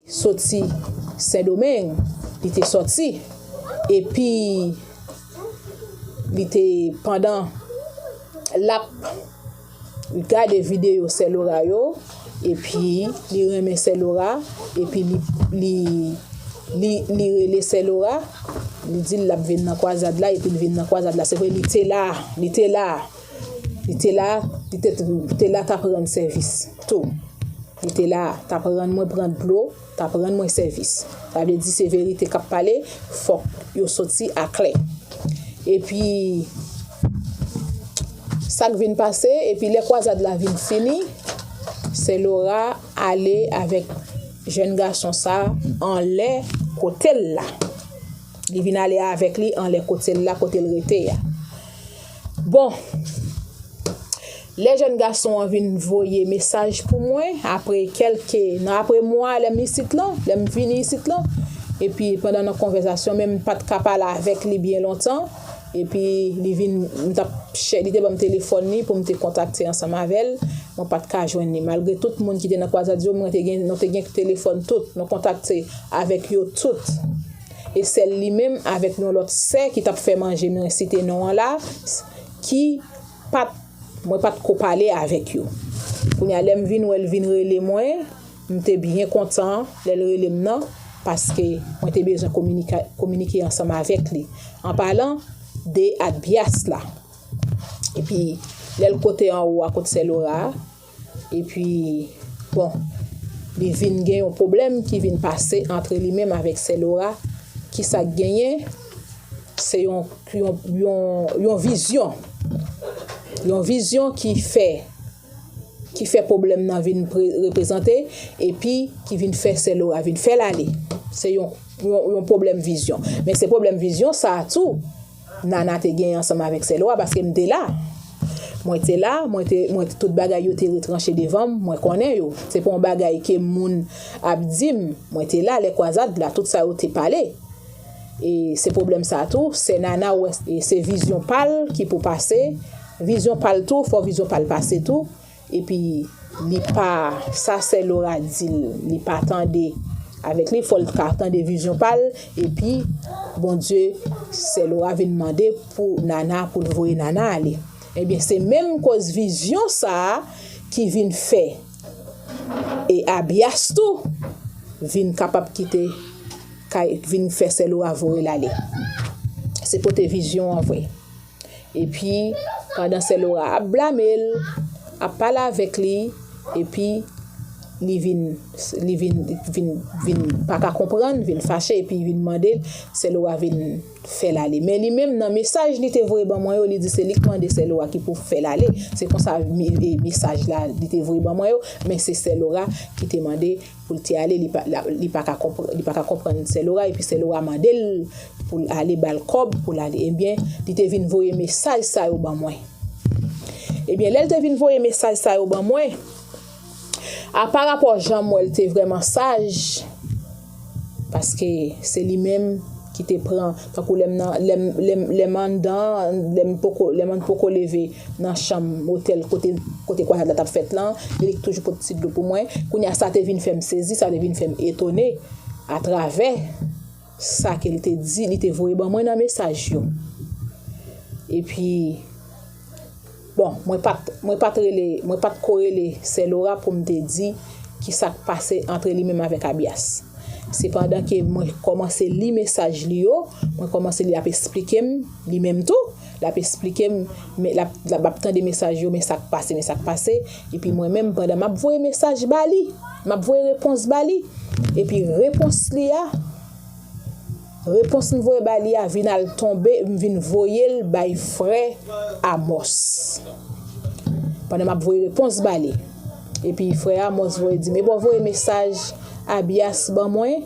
soti sendomeng li te soti epi li te pandan lap gade video sè lora yo epi li renmen sè lora epi li rele sè lora li dil lap vin nan kwazad la epi li vin nan kwazad la se vre li te la li te la. Li te la, li te te la tap rann sèvis tou. Li te la, tap rann mwen pran dlo, tap rann mwen sèvis. Sa vle di se verite kap pale, fòk yo soti aklè. Epi, sak vin pase, epi lè kwazad la vin fini, sè Lora ale avèk jèn gason sa anlè kotel la. Li vin ale avèk li anlè kotel la kotel rete a. Bon, lè jèn gason an vin voye mesaj pou mwen, apre kelke, nan apre mwa lè m isit lan, lè m vini isit lan, epi pandan nan konvèzasyon menm m pa t ka pale avèk li byen lontan, epi li vin, m t ap chè, li te ban m telefòn li pou m te kontakte ansanm avè l, mwen pa t ka jwenn li. Malgre tout moun ki te nan Kwazadyo, mwen te gen, nou te gen telefòn tout, nou kontakte avèk yo tout. E sèl li menm avèk yon lòt sè ki t ap fè manje mwen site non an la ki pa t mwen pa t ko pale avèk yo. Kounye a lè m vin wè l vin rele mwen, m te byen kontan lè l rele m nan paske mwen te bezwen kominike ansanm avèk li. Anpalan de Atbyas la. Epi lè l kote anwo a kot sè Lora a. Epi, bon, li vin gen yon pwoblèm ki vin pase antre li menm avèk sè Lora. Ki sa k genyen? Se yon, yon vizyon. Yon vizyon ki fè, ki fè pwoblèm nan vin reprezante epi ki vin fè sè Lora vin fè l ale. Se yon, yon pwoblèm vizyon. Men se pwoblèm vizyon sa a tou. Nana te genyen ansanm avèk sè Lwa, paske m te la. Mwen te la, mwen te, mwen, tout bagay yo te retranche devan m, mwen konnen yo. Se pa yon bagay ke moun ap di m, mwen te la lè kwazad la, tout sa yo te pale. E se pwoblèm sa a tou, sè Nana wè, se vizyon pa l ki pou pase, vizyon pa l tou, fò vizyon pa l pase tou. Epi li pa sa sè Lora dil li pa tande avèk li fòl ka tande vizyon pal epi Bondye sè Lora vin mande pou Nana poul voye Nana ale ebyen se menm koz vizyon sa ki vin fè e Abias tou vin kapab kite kay vin fè sè Lora voyel ale se pote vizyon an vre. Epi, pandan sè Lora ap blame l, ap pale avèk li, epi li vin, li vin, vin, vin pa ka konprann, vin fache epi vin mande l, sè Lora vin fè l ale. Men li menm nan mesaj li te voye ban mwen yo, li di se li k mande sè Lora ki pou fè l ale. Se konsa mesaj la li te voye ban mwen yo, men se sè Lora ki te mande. Poul te ale li pa ka konprann sè Lora epi sè Lora mandel poul ale bal kòb poul ale ebyen li te vin voye mesaj sa yo ban mwen ebyen lèl te vin voye mesaj sa yo ban mwen apa rapò janm wèl te vrèman saj paske se li menm ki te pran tankou lèm nan lèm lèm lèm anndan lèm poko lèm an poko leve. nan chanm otèl kote kote kwayad la t ap fèt lan, e li toujou pot ti dlo pou mwen. Kounye a, sa te vin fè m sezi, sa te vin fè m etone atravè sa ke li te di, li te voye ban mwen nan mesaj yo. E pi, bon, mwen pa t, mwen pa t rele, mwen pa t ko rele Sè Lora pou m te di ki sa k pase antre li menm avèk Abyas. Sepandan ke mwen kòmanse li mesaj li yo, mwen kòmanse li ap esplike m li menm tou, L ap esplike m, men l ap, l ap tande mesaj yo, men sa k pase, men sa k pase. Epi mwen menm, pandan m ap voye mesaj ba li, m ap voye repons ba li, epi repons li a, repons m voye ba li a vin al tonbe, m vin voye l bay frè Amòs. Pandan m ap voye repons ba li. Epi frè Amòs voye di m, e bon, voye mesaj Abyas ban mwen.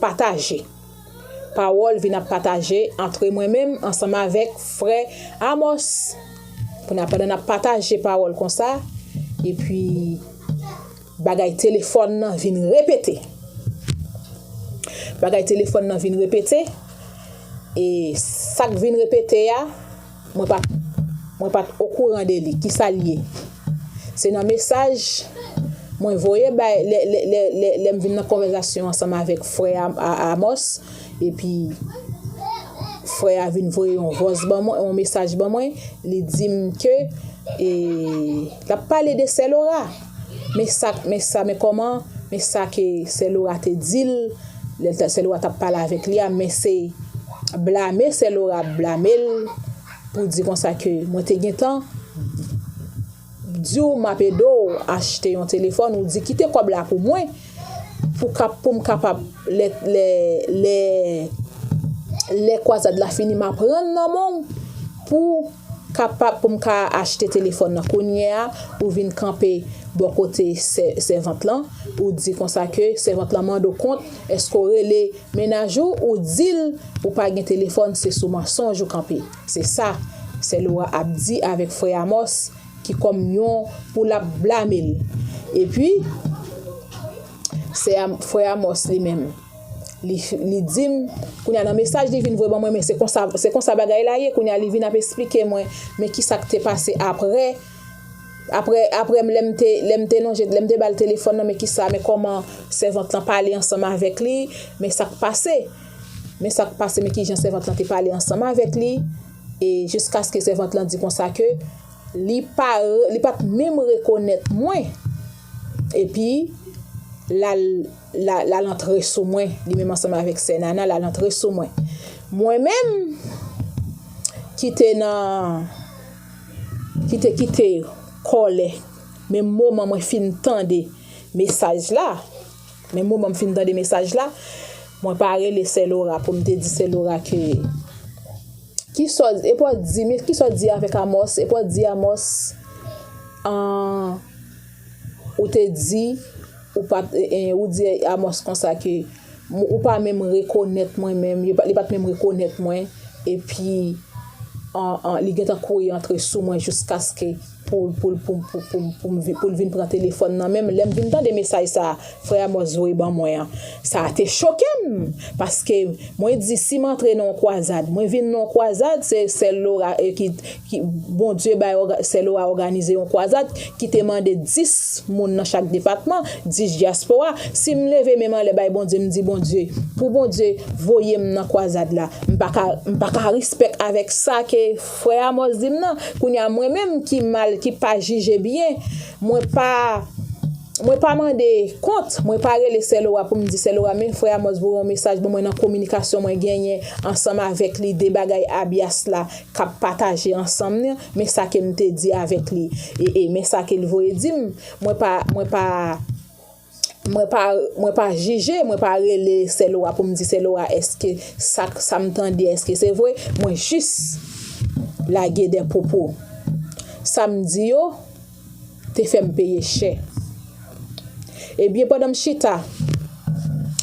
Pataje. Pawòl vin ap pataje antre mwen menm ansanm avèk frè Amòs. Kounye-a, pandan n ap pataje pawòl konsa, epi bagay telefòn nan vin repete. Bagay telefòn nan vin repete, e sa k vin repete a, Mwen pat Mwen pat okouran de li kisal ye se nan mesaj Mwen voye bay lè lè lè lè lèm vin nan konvèzasyon ansanm avèk frè Amos epi frè a vin voye yon vòs ban mwen yon mesaj ban mwen li dim ke e lap pale de sè Lora. Men sa, men sa, men kòman, men sa ke sè Lora te di l, lè l ta, sè Lora t ap pale avèk li a, men se blame sè Lora ap blame l pou di konsa ke mwen te gentan di w m ap ede w achte yon telefòn, ou di kite kòb la pou mwen pou ka, pou m kapab lè, lè, lè lè kwazad la fini m ap rann nan men w pou Kapab pou m ka achte telefòn nan kounye a ou vin kanpe bò kote sèvant lan ou di konsa ke sèvant lan mande w kont èske w rele mennaj ou ou di l ou pa gen telefòn se sou mansonj ou kanpe se sa sè Lora ap di avèk frè Amòs ki kòm yon pou l ap blame l epi sè frè Amòs li menm. Li di m, kounye a nan mesaj li vin voye ban mwen men se konsa se konsa bagay la ye, kounye a li vin ap esplike mwen men kisa k te pase aprè aprè aprè m lè m te lè m te lonje lè m te ba l telefòn nan men kisa men kòman sèvant lan pale ansanm avèk li men sa k pase men sa k pase men kijan sèvant lan te pale ansanm avèk li e jiskaske sèvant lan di konsa ke li pa li pat menm rekonèt mwen epi l al L al antre sou mwen, li menm ansanm avèk sè Nana, l al antre sou mwen. Mwen menm, ki te nan, ki te kite kòlè, menm moman mwen fin tande mesaj la, menm moman m fin tande mesaj la, mwen pa rele sè Lora pou m te di sè Lora ke, ki sa w, e pou w di, ki sa w di avèk Amòs, e pou w di Amòs, an, Ou te di, ou pa, ou di Amòs konsa ke, ou pa menm rekonèt mwen menm, li pa t menm rekonèt mwen, epi li gen tan kouri antre sou mwen jiskaske pou l vin pran telefòn nan men m. Lè m vin tande mesaj sa a frè Amòs voye ban mwen an, sa te choke m, paske mwen di si m antre nan yon kwazad, mwen vin nan yon kwazad, se sèl Lora ki. Bondye bay Selo a òganize yon kwazad ki te mande 10 moun nan chak depatman, 10 dyaspora. Si m leve men m anlè bay Bondye, m di Bondye, pou Bondye voye m nan kwazad la, m pa ka m pa ka rispèk avèk sa ke frè Amòs di m nan. Kounye a mwen menm ki mal, ki pa jije byen, mwen pa mwen pa mande kont, mwen pa rele Selo a pou m di Selo a men frè Amòs voye yon mesaj ban mwen nan kominikasyon mwen genyen ansanm avèk li de bagay Abyas la k ap pataje ansanm ni men sa ke m te di avèk li e e men sa ke l voye di m mwen pa mwen pa mwen pa mwen pa jije mwen pa rele sè Lora pou m di sè Lora èske sa k sa m tande èske se vwe mwen jis lage de pwopo sa m di yo te fè m peye chè. Ebyen pandan m chita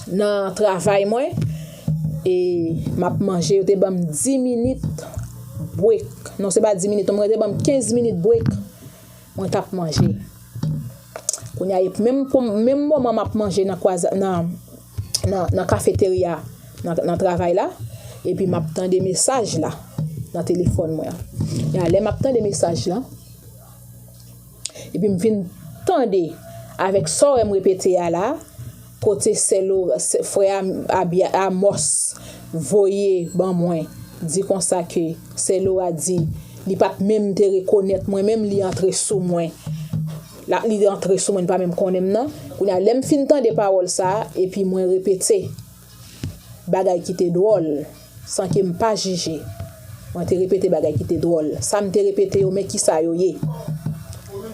nan travay mwen e m ap manje yo te ban m 10 minit brek. Non se pa 10 minit non mwen yo te ban m 15 minit brek mwen t ap manje. Kounye a menm moman m ap manje nan kwa nan nan kafeterya nan travay la epi map tande mesaj la nan telefòn mwen an lè map tande mesaj lan epi m vin tande avèk sa w wè m repete a la kote sè Lora frè Amòs voye ban mwen di konsa ke sè Lora di li pat menm te rekonèt mwen menm li antre sou mwen La li rantre sou mwen li pa menm konnen m nan, kounye a lè m fin tande pawòl sa a epi mwen repete bagay ki te dwòl san ke m pa jije. Mwen te repete bagay ki te dwòl. Sa m te repete yo men kisa yo ye.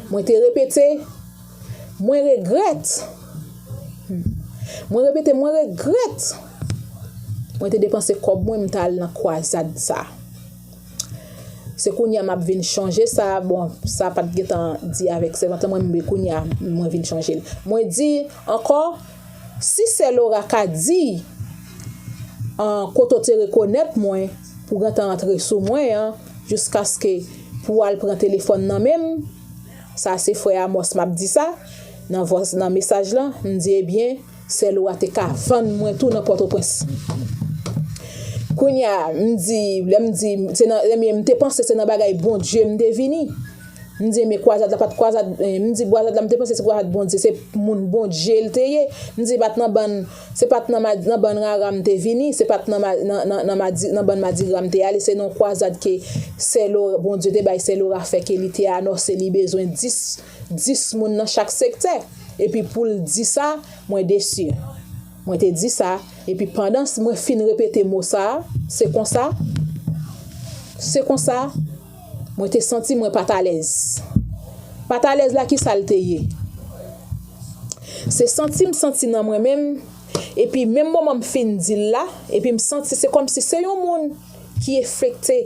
Mwen te repete mwen regrèt Mwen repete mwen regrèt mwen te depanse kòb mwen m ta al nan kwazad sa. Se kounya map vin chanje sa bon sa pat gentan di avèk sèvant lan mwen mwen kounya mwen vin chanje l mwen di ankò si sè Lora ka di an kote w te rekonèt mwen pou w gentan antre sou mwen an jiskaske pou w al pran telefòn nan men m sa se frè Amos map di sa nan vwa nan mesaj lan m di ebyen. Sèl ou a te ka vann mwen tou nan pòtoprens kounya m di lè m di se nan ebyen m te panse se nan bagay bondye m te vini m di ebyen kwazad la pat kwazad m di kwazad la m te panse se kwazad bondye se moun bondye l te ye m di pat nan bann se pat nan nan bann rara m te vini se pat nan nan bann madigra m te ale se nan kwazad ke sèlo bondye te bay sèlora fè ke li te anonse li bezwen 10. 10 moun nan chak sektè epi poul di sa mwen desi mwen te di sa epi pandan mwen fin repete mo sa se konsa se konsa mwen te santi mwen pat alèz pat alèz la ki sal te ye se santi m santi nan mwen menm epi menm moman m fin dil la epi m santi se kòmsi se yon moun ki efekte.